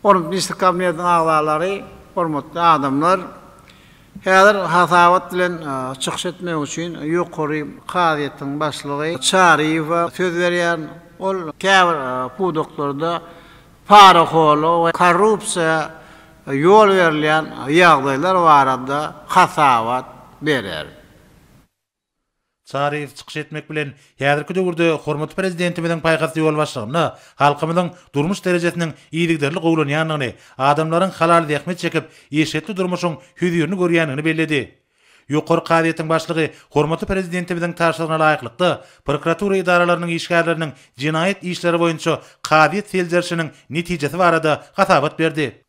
Hormatly Ministrler Kabinetiniň agzalary, hormatly adamlar! Häzir hasabat bilen çykyş etmek üçin Ýokary kazyýetiň başlygy Çaryýewe söz berýän. Ol käbir pudaklarda parahorluga we korrupsiýa ýol berilýän ýagdaýlar barada hasabat berer. Çaryýew çykyş etmek bilen, häzirki döwürde hormatly Prezidentimiziň paýhasly ýolbaşçylygynda halkymyzyň durmuş derejesiniň yzygiderli gowulanýandygyny, adamlaryň halal zähmet çekip, eşretli durmuşyň hözirini görýändigini belledi. Ýokary kazyýetiň başlygy hormatly Prezidentimiziň tabşyrygyna laýyklykda, prokuratura edaralarynyň işgärleriniň jenaýat işleri boýunça kazyýet seljerişiniň netijesi barada hasabat berdi.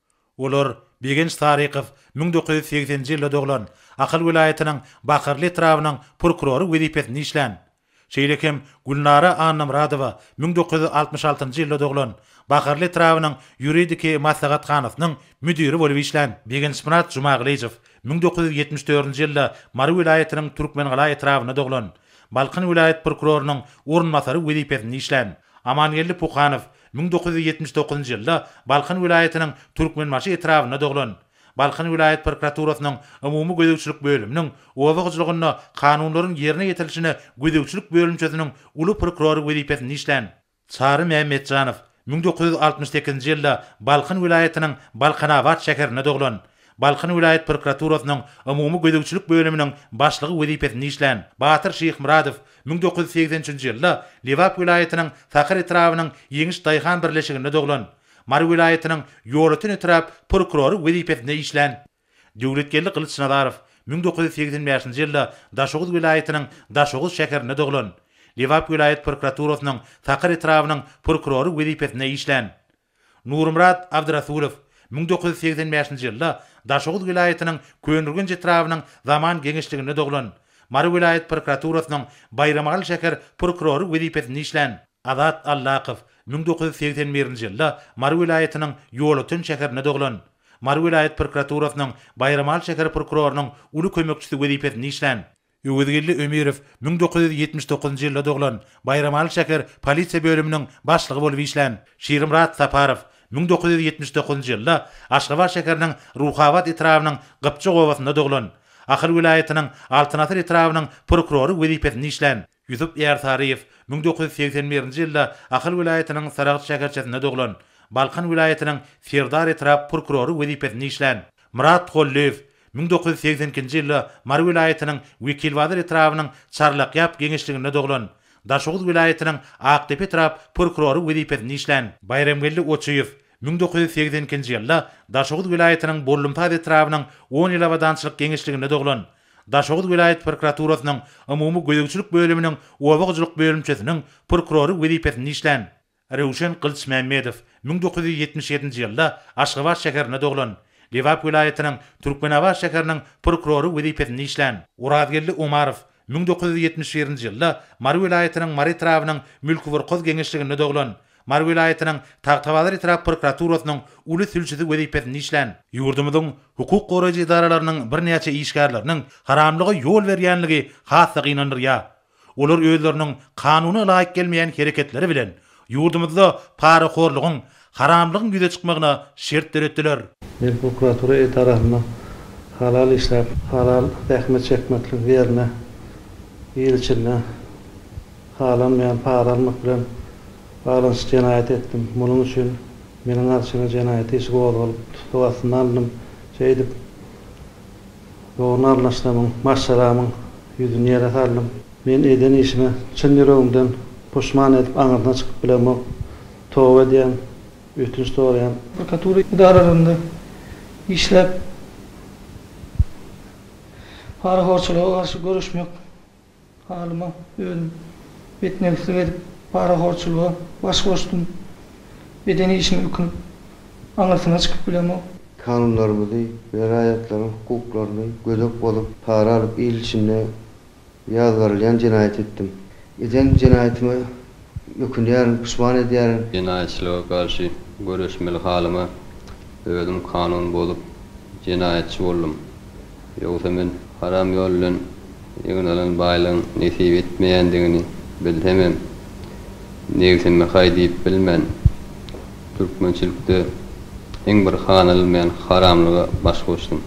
Olar, Begenç Sarykow, müň dokuz ýüz segseninji ýylda doglan, Ahal welaýatynyň Bakarly etrabynyň prokurory wezipesinde işlän. Şeýle hem Gülnara Annamyradowa, müň dokuz ýüz altmyş altynjy ýylda doglan, Bakarly etrabynyň ýuridiki maslahathanasynyň müdiri bolup işlän. Begençmyrat Jumagylyjow, müň dokuz ýüz ýetmiş dördünji ýylda Mary welaýatynyň Türkmengala etrabynda doglan, Balkan welaýat prokurorynyň orunbasary wezipesinde işlän. Amangeldi Puhanow müň dokuz ýüz ýetmiş dokuzynjy ýylda Balkan welaýatynyň Türkmenbaşy etrabynda doglan. Balkan welaýat prokuraturasynyň umumy gözegçilik bölüminiň oba hojalygynda kanunlaryň ýerine ýetirilişine gözegçilik bölümçesiniň uly prokurory wezipesinde işlän. Çary Mämmetjanow müň dokuz ýüz altmyş sekizinji ýylda Balkan welaýatynyň Balkanabat şäherinde doglan. Balkan welaýat prokuraturasynyň umumy gözegçilik bölüminiň başlygy wezipesinde işlän. Batyr Şyhmyradow Müň dokuz ýüz segsen üçünji ýylda Lebap welaýatynyň Sakar etrabynyň Ýeňiş daýhan birleşiginde doglan. Mary welaýatynyň Ýolöten etrap prokurory wezipesinde işlän. Döwletgeldi Gylyçnazarow müň dokuz ýüz segsen bäşinji ýylda Daşoguz welaýatynyň Daşoguz şäherinde doglan. Lebap welaýat prokuraturasynyň Sakar etrabynyň prokurory wezipesinde işlän. Nurmyrat Abdyrasulow müň dokuz ýüz segsen bäşinji ýylda Daşoguz welaýatynyň Köneürgenç etrabynyň Zaman geňeşliginde doglan. Mary welaýat prokuraturasynyň Baýramagaly şäher prokurory wezipesinde işlän Azat Allakow müň dokuz ýüz segsen birinji ýylda Mary welaýatynyň Ýolöten şäherinde doglan. Mary welaýat prokuraturasynyň Baýramagaly şäher prokurorynyň uly kömekçisi wezipesinde işlän. Öwezgeldi Ömirow müň dokuz ýüz ýetmiş dokuzynjy ýylda doglan, Baýramaly şäher polisiýa bölüminiň başlygy bolup işlän Şirimyrat Saparow müň dokuz ýüz ýetmiş dokuzynjy ýylda Aşgabat şäheriniň Ruhabat etrabynyň Gypjak obasynda doglan, Ahal welaýatynyň Altyn asyr etrabynyň prokurory wezipesinde işlän. Ýusup Ýarsaryýew müň dokuz ýüz segsen birinji ýylda Ahal welaýatynyň Saragt şäherçesinde doglan, Balkan welaýatynyň Serdar etrap prokurory wezipesinde işlän. Myrat Gollyýew Müň dokuz ýüz segsen ikinji ýylda Mary welaýatynyň Wekilbazar etrabynyň Çarlakýap geňeşliginde doglan. Daşoguz welaýatynyň Akdepe etrap prokurory wezipesinde işlän. Baýramgeldi Oçuýew müň dokuz ýüz segsen ikinji ýylda Daşoguz welaýatynyň Bollumsaz etrabynyň On ýyl abadançylyk geňeşliginde doglan. Daşoguz welaýat prokuraturasynyň Umumy gözegçilik bölüminiň Oba hojalyk bölümçesiniň prokurory wezipesinde işlän. Röwşen Gylyçmämmedow müň dokuz ýüz ýetmiş ýedinji ýylda Aşgabat şäherinde doglan. Lebap welaýatynyň Türkmenabat şäheriniň prokurory wezipesinde işlän. Orazgeldi Omarow müň dokuz ýüz ýetmiş birinji ýylda Mary welaýatynyň Mary etrabynyň Mülküburkoz geňeşliginde doglan. Mary welaýatynyň Tagtabazar etrap prokuraturasynyň uly sülçüsi wezipesinde işlän. Ýurdumyzyň hukuk goraýjy edaralarynyň birnäçe işgärleriniň haramlyga ýol berýänligi has-da gynandyrýar. Olar özleriniň kanuna laýyk gelmeýän hereketleri bilen ýurdumyzda parahorlugyň, haramlygyň ýüze çykmagyna şert döretdiler. Milli prokuratura edarasynda halal işläp, halal zähmet çekmekligiň ýerine ýyl içinde halanmaýan para almak bilen baglanyşykly jenaýat etdim. Munuň üçin meniň arçyma jenaýat işi gozgalyp, tussag astyna alndym, şeýdip, Dogryny arlaşdamyň, maşgalamyň ýüzüni ýere saldym. Men eden işime çyn ýüregimden puşman edip aňyrsyna çykyp bilemok. Toba edýän, ötünç soraýan. Prokuratura edaralarynda işläp parahorçylyga garşy göreşmek. Halyma özüm betnegtlik edip, parahorçulyga baş goşdum. Eden işime ökünip, aňyrsyna çykyp bilemok. Kanunlarymyzy we raýatlaryň hukuklaryny gözek bozup, para alyp il içinde ýazgarylýan jenaýat etdim. Eden jenaýatyma Ökünýärin, puşman edýärin. Jenaýatçylyga garşy göreşmeli halyma özüm kanun bozup, jenaýatçy boldum. Ýogsa men haram ýol bilen egin alan baýlygyň nesip etmeýändigini bilsemem, nebsimi haý diýip bilmen, türkmençilikde iň bir hanalylmaýan haramlyga baş goşdum.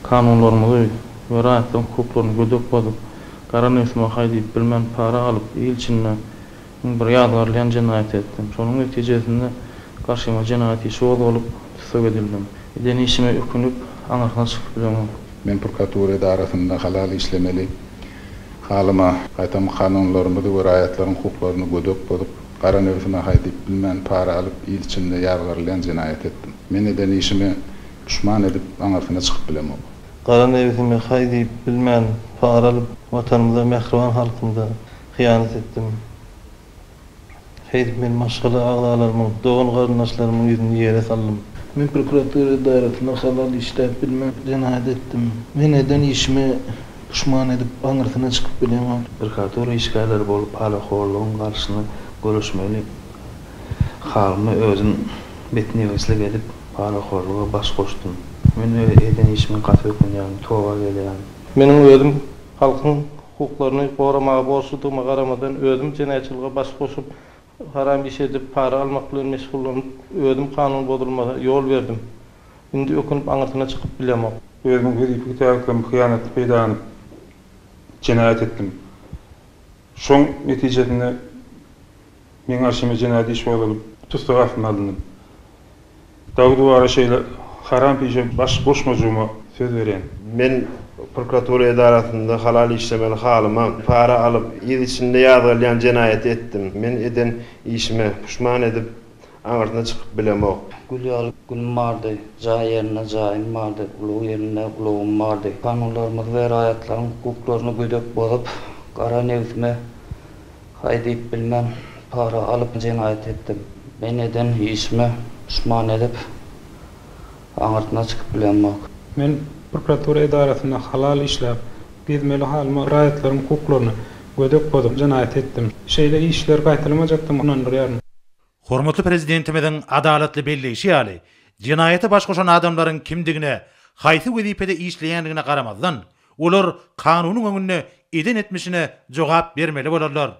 Kanunlarymyzy we raýatlaryň hukuklaryny gödek bozup, Gara nusma haý diýip bilmän para alyp il içinde iň bir ýazgarylýan jenaýaty etdim. Şonuň netijesinde garşyma jenaýat işi gozgalyp, tussag edildim. Eden işime ökünip, aňyrsyna çykyp bilemok. Men prokuratura edarasynda halal işlemeli halyma, gaýtam kanunlarymyzy we raýatlaryň hukuklaryny gödek bozup, gara nusma haý diýip bilmän para alyp il içinde ýazgarylýan jenaýaty etdim. Men eden işime puşman edip, aňyrsyna çykyp bilemok. Gara nebsime haý diýip bilmän para alyp watanymyza mähriban halkymyza hyýanat etdim. Şeýdip men maşgala agzalarymyň, dogan garyndaşlarymyň ýüzüni ýere saldym. Men prokuratura edarasyna halal işläp bilmän jenaýat etdim. Men eden işime puşman edip aňyrsyna çykyp bilemok. Prokuratura işgärleri bolup parahorlygyň garşyny göreşmeli. Halyma özüm betnebeslik edip Parahorluga baş goşdum. Men öz eden işime gaty ökünýän, toba gelýän. Meniň özüm halkyň hukuklaryny goramaga borçludygyma garamadan özüm jenaýatçylyga baş goşup, haram iş edip, para almak bilen meşgullanyp, özüm kanun bozulmaha ýol berdim. Indi ökünip aňyrsyna çykyp bilemok. Özümiň wezipeli täklerimi hyýanatly peýdalanyp jenaýat etdim. Şoň netijesinde. Meň garşyma jenaýat iş gozgalyp, tussag astyna alndym. Dagy-duwara şeýle haram pişe baş goşmajygyma söz berýän. Men prokuratura edarasynda halal işlemeli halyma para alyp, yz içinde ýazgarylýan jenaýaty etdim. Men eden işime puşman edip, aňyrsyna çykyp bilemok. Gül ýaly gülüm bardy, jaý ýerinde jaýym bardy, ulag ýerinde ulagym bardy. Kanunlarymyzy we raýatlaryň hukuklaryny gödek bozup, gara nebsime Haý diýip bilmän, para alyp jenaýat etdim. Men eden işime puşman edip, aňyrsyna çykyp bilemok. Men prokuratura edarasynda halal işläp, gezmeli halyma raýatlaryň hukuklaryny gödek bozup jenaýat etdim. Şeýle işler gaýtalamajakdygyma ynandyrýaryn. Hormatly Prezidentimiziň adalatly belleýşi ýaly, jenaýata baş goşan adamlaryň kimdigine, haýsy wezipede işleýändigine garamazdan, Olar kanunyň öňünde eden etmişine jogap bermeli bolarlar.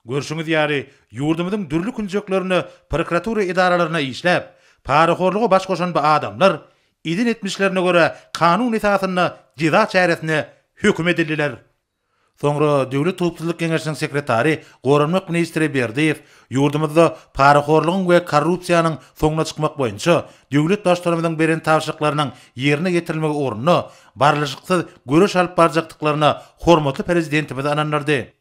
Görşüňiz ýaly, ýurdumyzyň dürli künjeklerinde prokuratura edaralaryna işläp, parahorluga baş goşan bu adamlar, eden etmişlerine görä kanun esasynda jeza çäresine höküm edildiler. Soňra Döwlet howpsuzlyk geňeşiniň sekretary, goranmak ministri Berdiýew ýurdumyzda parahorlugyň we korrupsiýanyň soňuna çykmak boýunça döwlet Baştutanymyzyň beren tabşyryklarynyň ýerine ýetirilmegi ugrunda barlyşyksyz göreş alyp barjakdyklaryna hormatly Prezidentimiz ynandyrdy.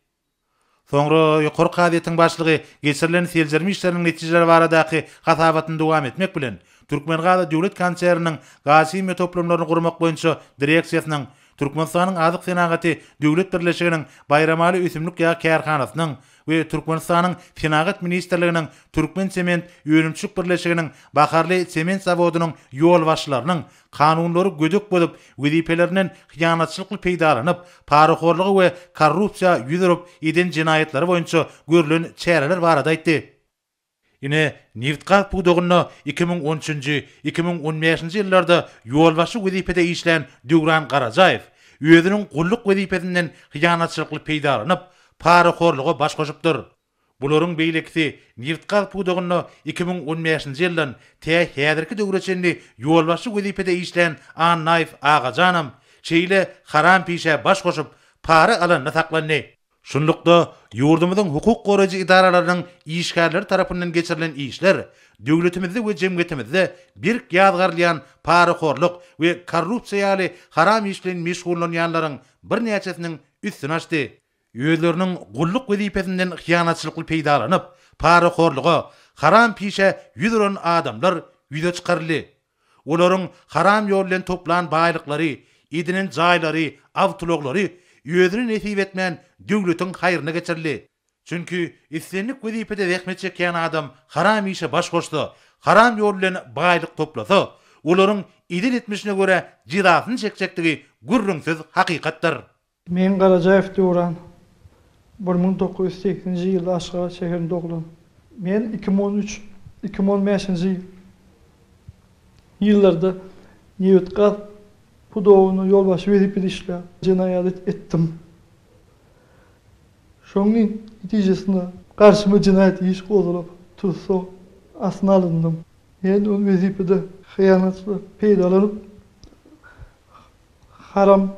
Soňra ýokary kazyýetiň başlygy geçirilen seljerme işleriniň netijeleri baradaky hasabatyny dowam etmek bilen, Türkmengaz döwlet konserniniň gazhimiýa toplumlaryny gurmak boýunça direksiýasynyň, Türkmenistanyň Azyk senagaty döwlet birleşiginiň Baýramaly ösümlik ýag kärhanasynyň we Türkmenistanyň Senagat ministrliginiň Türkmen sement önümçilik birleşiginiň Baharly sement zawodynyň ýolbaşçylarynyň kanunlary gödek bozup, wezipelerinden hyýanatçylykly peýdalanyp, parahorlugy we korrupsiýa ýüz urup, eden jenaýatlary boýunça görlen çäreler barada aýtdy. Ine, nebit-gaz pudagynda iki müň on üçünji, iki müň on bäşinji ýyllarda ýolbaşçy wezipede işlän Döwran Garajaýew özüniň gulluk wezipesinden hyýanatçylykly peýdalanyp, parahorluga baş goşupdyr. Bularyň beýlekisi nebit-gaz pudagynda iki müň on bäşinji ýyldan tä häzirki döwre çenli ýolbaşçy wezipede işlän Annaýew Agajanam şeýle harampişä baş goşup, para alanda saklandy. Şunlukda, ýurdumyzyň hukuk goraýjy edaralarynyň işgärleri tarapyndan geçirilen işler döwletimizde we jemgyýetimizde berk ýazgarylýan parahorluk we korrupsiýa ýaly haram iş bilen meşgullanýanlaryň birnäçesiniň üstüni açdy. özleriniň gulluk wezipesinden hyýanatçylykly peýdalanyp, parahorluga, haram pişe ýüz uran adamlar ýüze çykaryldy. Olaryň haram ýol bilen toplan baýlyklary, edinen jaýlary, awtoulaglary özüne nesip etmän döwletiň haýryna geçirildi. Çünki islendik wezipede zähmet çekýän adam haram işe baş goşsa, haram ýol bilen baýlyk toplasa, olaryň edil etmişine görä jezasyny çekjekdigi gürrüňsiz hakykatdyr. Meň Garajaýew Döwran. Bir müň dokuz ýüz sekisinji ýylda Aşgabat şäherinde doglan. Men iki müň on üç, iki müň on bäşinji ýyllarda nebit-gaz pudogynda ýolbaşçy wezipede işläp, jenaýat etdim. Şonuň netijesinde garşyma jenaýat iş gozalyp, tussag astyna alyndy. Men ol wezipede hyýanatly peýdalanyp, Haram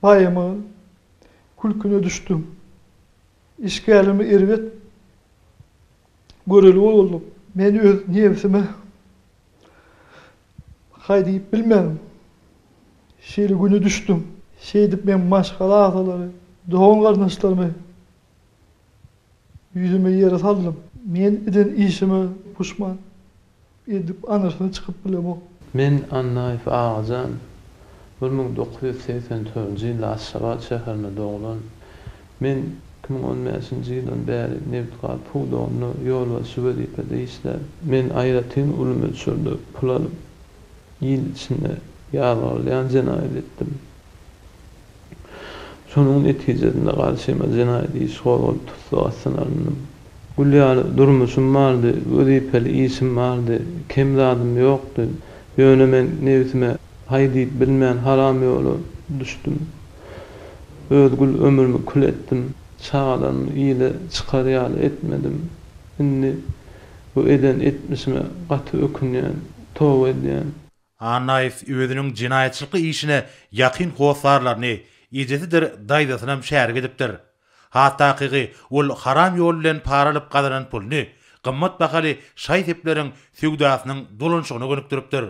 baýamagyň külküne düşdüm. Işgärlerimi erbet göreli boldum. Men öz nebsime haý diýip bilmedim. Şeýle güne düşdüm. Şeýdip men maşgala agzalary, dogan-garyndaşlarymy Ýüzümi ýere saldym. Men eden işime puşman. Edip aňyrsyna çykyp bilemok. Men Annaýew Agajan. Bir müň dokuz ýüz segsen dördünji ýylda Aşgabat şäherinde doglan. Men iki müň on bäşinji ýyldan bäri nebitgaz pudagynda ýolbaşçy wezipede işlän. Men aýratyn uly möçberde pul alyp, il içinde ýazgarylýan jenaýat etdim. Şonuň netijesinde garşyma jenaýat işi gozgalyp tussag astyna alndym. Gül ýaly durmuşym bardy, wezipeli işim bardy, kem zadym ýokdy. Ýöne men nebsime haý diýip bilmän haram ýola düşdüm. Öz gül ömrümi kül etdim. Çagalarymy ile çykar ýaly etmedim. Indi bu eden etmişime gaty ökünýän, toba edýän. Annaýew özüniň jenaýatçylyk işine ýakyn hossarlaryny, ejesidir daýzasynam şärik edipdir. Has takygy, ol haram ýol bilen para alyp gazanan puluny gymmat bahaly şaý-sepleriň söwdasynyň dolanşygyna gönükdiripdir.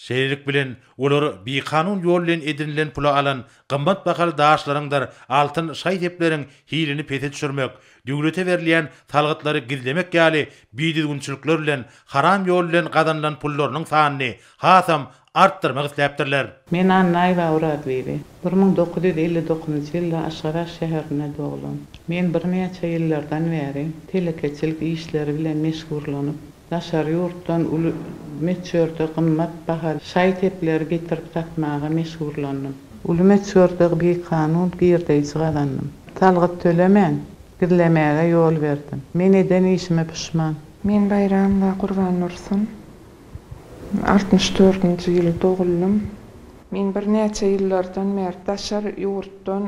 Şeýlelik bilen, olar bikanun ýol bilen edinilen pula alan gymmat bahaly daşlaryňdyr altyn şaý-sepleriň hilini pese düşürmek, Döwlete berilýän salgytlary gizlemek ýaly bidüzgünçilikler bilen haram ýol bilen gazanylan pullarynyň sanyny hasam artdyrmak isläpdirler. Men Annaýewa Oraz bibi. Bir müň dokuz ýüz elli dokuzynjy ýylda Aşgabat şäherinde doglan. Men birnäçe ýyllardan bäri telekeçilik işleri bilen meşgurlanyp, Daşary ýurtdan uly möçberde gymmat bahaly şaý-sepleri getirip satmaga meşhurlandym. Uly möçberde bikanun girdeýji gazandym. Salgyt tölemän, gizlemäge ýol berdim. Men eden işime puşman. Men Baýram we Gurban Dursun. Altmyş dördünji ýyl doguldym. Men birnäçe ýyllardan bäri daşary ýurtdan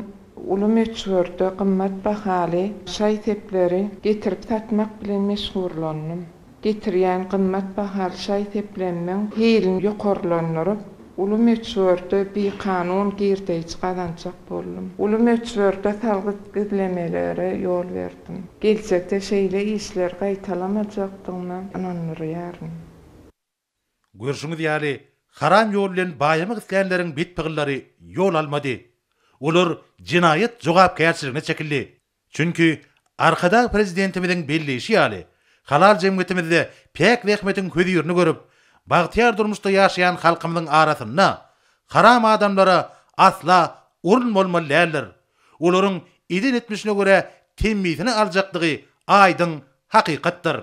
Uly möçberde gymmat bahaly şaý-sepleri getirip satmak bilen meşgurlandym. Getirýän gymmat bahaly şaý-seplerimiň hilini ýokarlandyryp, uly möçberde bikanun girdeýji gazanjak boldum. Uly möçberde salgyt gizlemelere ýol berdim. Geljekde şeýle işleri gaýtalamajakdygyma ynandyrýaryn. Görşüňiz ýaly, haram ýol bilen baýamak islänleriň bit-pygyllary ýol almady. Olar jenaýat jogapkärçiligine çekildi. Çünki, Arkadag Prezidentimiziň belleýşi ýaly, halal jemgyýetimizde päk zähmetiň hözirini görüp, bagtyýar durmuşda ýaşaýan halkymyzyň arasynda haram adamlara asla orun bolmaly däldir. Olaryň eden-etmişine görä temmisini aljakdygy aýdyň hakykatdyr.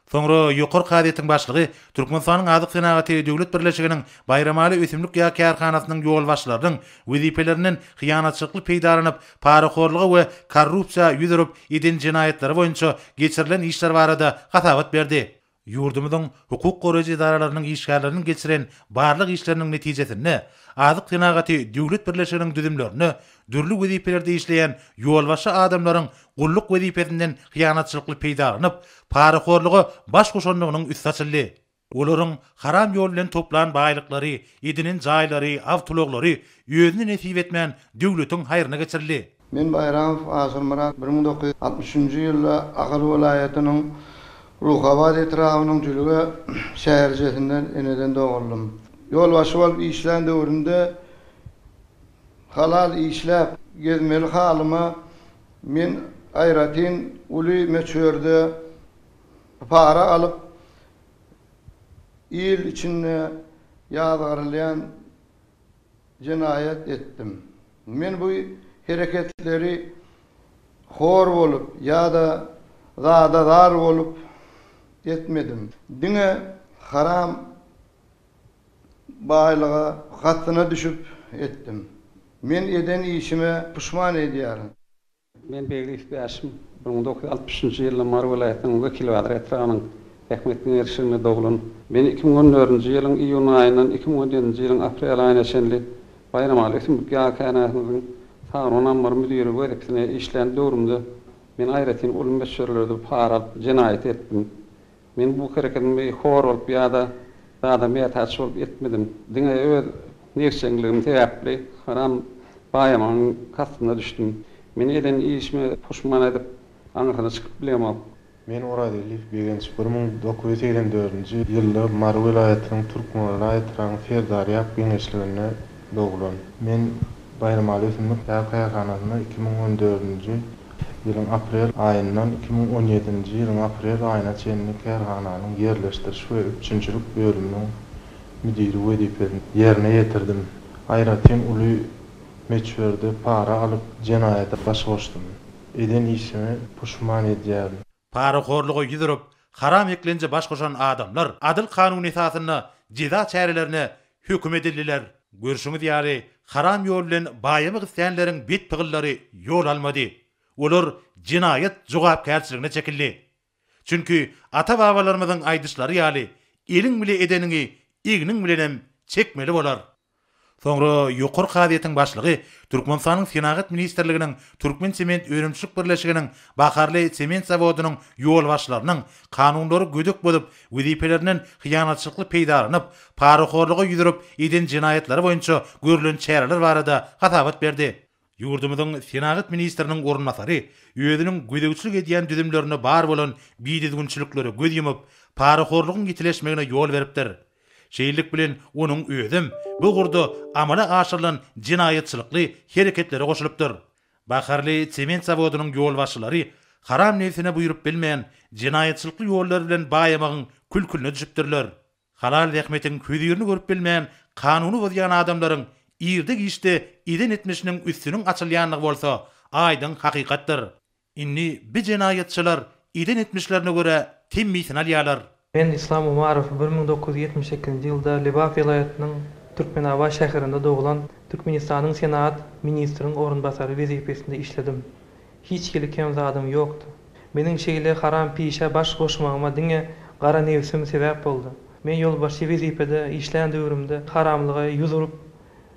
Soňra ýokary kazyýetiň başlygy Türkmenistanyň Azyk senagaty döwlet birleşiginiň Baýramaly ösümlik ýag kärhanasynyň ýolbaşçylarynyň wezipelerinden hyýanatçylykly peýdalanyp, parahorluga we korrupsiýa ýüz urup, eden jenaýatlary boýunça geçirilen işler barada hasabat berdi. Ýurdumyzyň hukuk goraýjy edaralarynyň işgärleriniň geçiren barlag işleriniň netijesinde, Azyk senagaty döwlet birleşiginiň düzümlerinde dürli wezipelerde işleýän ýolbaşçy adamlaryň gulluk wezipesinden hyýanatçylykly peýdalanyp, parahorluga baş goşandygynyň üsti açyldy. Olaryň haram ýol bilen toplan baýlyklary, edinen jaýlary, awtoulaglary özüne nesip etmän, döwletiň haýryna geçirildi. Men Baýramow Asylmyrat bir müň dokuz ýüz altmyş üçünji ýylda Ahal welaýatynyň Ruhabat etrabynyň Jülge şäherçesinde eneden doguldym. Ýolbaşçy bolup işlän döwrümde, Halal işläp, gezmeli halyma men aýratyn uly möçberde para alyp, il içinde ýazgarylýan jenaýat etdim. Men bu hereketleri hor bolup ýa-da zada zar bolup etmedim. Diňe haram Baýlyga gatyna düşüp etdim. Men eden işime puşman edýärin. Men begli üç-bäşim. Bir müň dokuz ýüz altmyş üçünji ýylda Mary welaýatynyň Wekilbazar etrabynyň Bähmetli Ýer şirinde doglan. Men iki müň on dördünji ýylyň iýun aýyndan iki müň on ýedinji ýylyň aprel aýyna çenli Baýramaly ösümlik ýagy kärhanasymyzyň Sagron ammary müdiri wezipesinde işlän döwrümde men aýratyn uly möçberlerde para alyp jenaýat etdim. Men bu hereketimi hor bolup ýa-da zada mätäç bolup etmedim. Diňe öz negşeňligim sebäpli haram baýamagyň kastyna düşdüm. Men eden işime puşman edip, aňyrsyna çykyp bilemok. Men Orazelýew Begenç bir müň dokuz ýüz segsen dördünji ýylda Mary welaýatynyň Türkmenbaşy etrabynyň Serdarýap geňeşliginde doglan. Men Baýramaly ösümlik ýag kärhanasynda iki müň on dördünji ýylyň aprel aýyndan iki müň on ýedinji ýylyň aprel aýyna çenli kärhananyň ýerleşdiriş we üpjünçilik bölüminiň müdiri wezipesini ýerine ýetirdim. Aýratyn uly möçberde para alyp, jenaýata baş goşdum. Eden işime puşman edýärin. Parahorluga ýüz urup, haram eklenje baş goşan adamlar adyl kanun esasynda jeza çärelerine höküm edildiler. Görşüňiz ýaly, haram ýol bilen baýamak islänleriň bet pygyllary ýol almady. Olar jenaýat jogapkärçiligine çekildi. Çünki ata-babalarymyzyň aýdyşlary ýaly, Eliň bile edeniňi egniň bilenem çekmeli bolar. Soňra ýokary kazyýetiň başlygy Türkmenistanyň Senagat ministrliginiň Türkmensement önümçilik birleşiginiň Baharly sement zawodynyň ýolbaşçylarynyň kanunlary gödek bozup, wezipelerinden hyýanatçylykly peýdalanyp, parahorluga ýüz urup eden jenaýatlary boýunça görlen çäreler barada hasabat berdi. Ýurdumyzyň Senagat ministriniň orunbasary özüniň gözegçilik edýän düzümlerinde bar bolan bidüzgünçiliklere göz ýumup, parahorlugyň ýitileşmegine ýol beripdir. Şeýlelik bilen, onuň özem bu ugurda amala aşyrylan jenaýatçylykly hereketlere goşulypdyr. Baharly sement zawodynyň ýolbaşçylary haram nebsine buýrup bilmän, jenaýatçylykly ýollar bilen baýamagyň kül-külüne düşüpdirler. Halal zähmetiň hözirini görüp bilmän, kanuny bozýan adamlaryň irde-giçde eden etmişiniň üstüniň açylýandygy bolsa aýdyň hakykatdyr. Indi bi jenaýatçylar eden etmişlerine görä temmisini alýarlar. Men Yslam Umarow bir müň dokuz ýüz ýetmiş sekizinji ýylda Lebap welaýatynyň Türkmenabat şäherinde doglan Türkmenistanyň Senagat ministriň orunbasary wezipesinde işledim. Hiç hili kem zadym ýokdy. Meniň şeýle haram pişä baş goşmagyma diňe gara nebsim sebäp boldy. Men ýolbaşçy wezipede işlän döwrümde haramlyga ýüz urup,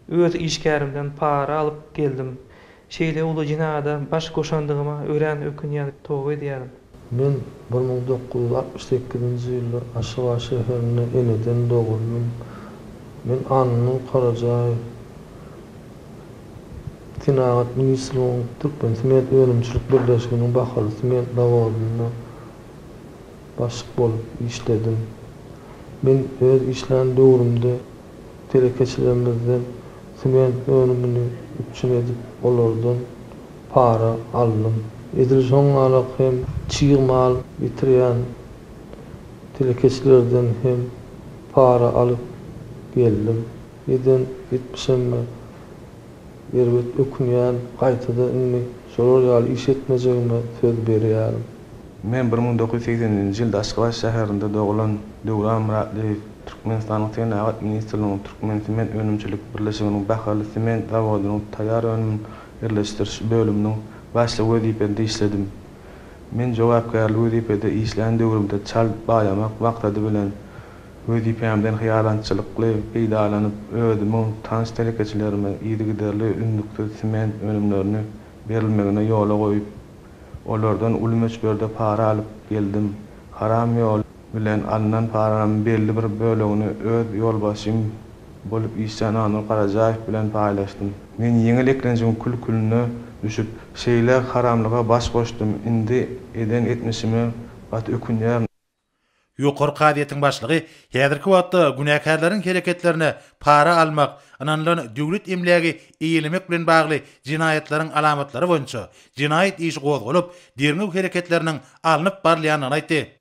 öz işgärimden para alyp geldim. Şeýle uly jenayada baş goşandygyma örän ökünýän, toba edýärin. Men bir müň dokuz ýüz altmyş sekizinji ýylda Aşgabat şäherinde eneden doguldym. Men Annanury Karajaýew Senagat ministrligiň Türkmensement önümçilik birleşiginiň bahaly sement zawodynda başlyk bolup işledim. Men öz işlän döwrümde telekeçilerimizden sement önümini üpjün edip, olardan para aldym. Edil şoňalak hem çig mal getirýän telekeçilerden hem para alyp geldim. Eden etmişime erbet ökünýän, gaýtada indi şolar ýaly iş etmejegime söz berýärin. Men bir müň dokuz ýüz segsen nji ýylda Aşgabat şäherinde dogulan Döwran Myratlyýew Türkmenistanyň Senagat ministrliginiň Türkmensement önümçilik birleşiginiň Bahaly sement zawodynyň taýýar önümin ýerleşdiriş bölüminiň başlygy wezipesinde işledim. Men jogapkärli wezipede işlän döwrümde çal baýamak maksady bilen wezipämden hyýalançylykly peýdalanyp, özümiň tans telekeçilerime yzygiderli üznüksiz sement önümlerini berilmegine ýola goýup, olardan uly möçberde para alyp geldim. Haram ýol. bilen alnan paranam belli bir bölegini öz ýolbaşçym bolup işlän Anur Garajaýew bilen paýlaşdym. Men ýeňil eklenjiň kül-külüne düşüp, şeýle haramlyga baş goşdum, indi eden etmişime gaty ökünýärin. Ýokary kazyýetiň başlygy häzirki wagtda günäkärleriň hereketlerine para almak, ynanylan döwlet emlägi eýelemek bilen bagly jenaýatlaryň alamatlary boýunça jenaýat işi gozgalyp, derňew hereketleriniň alnyp barylýandygyny aýtdy.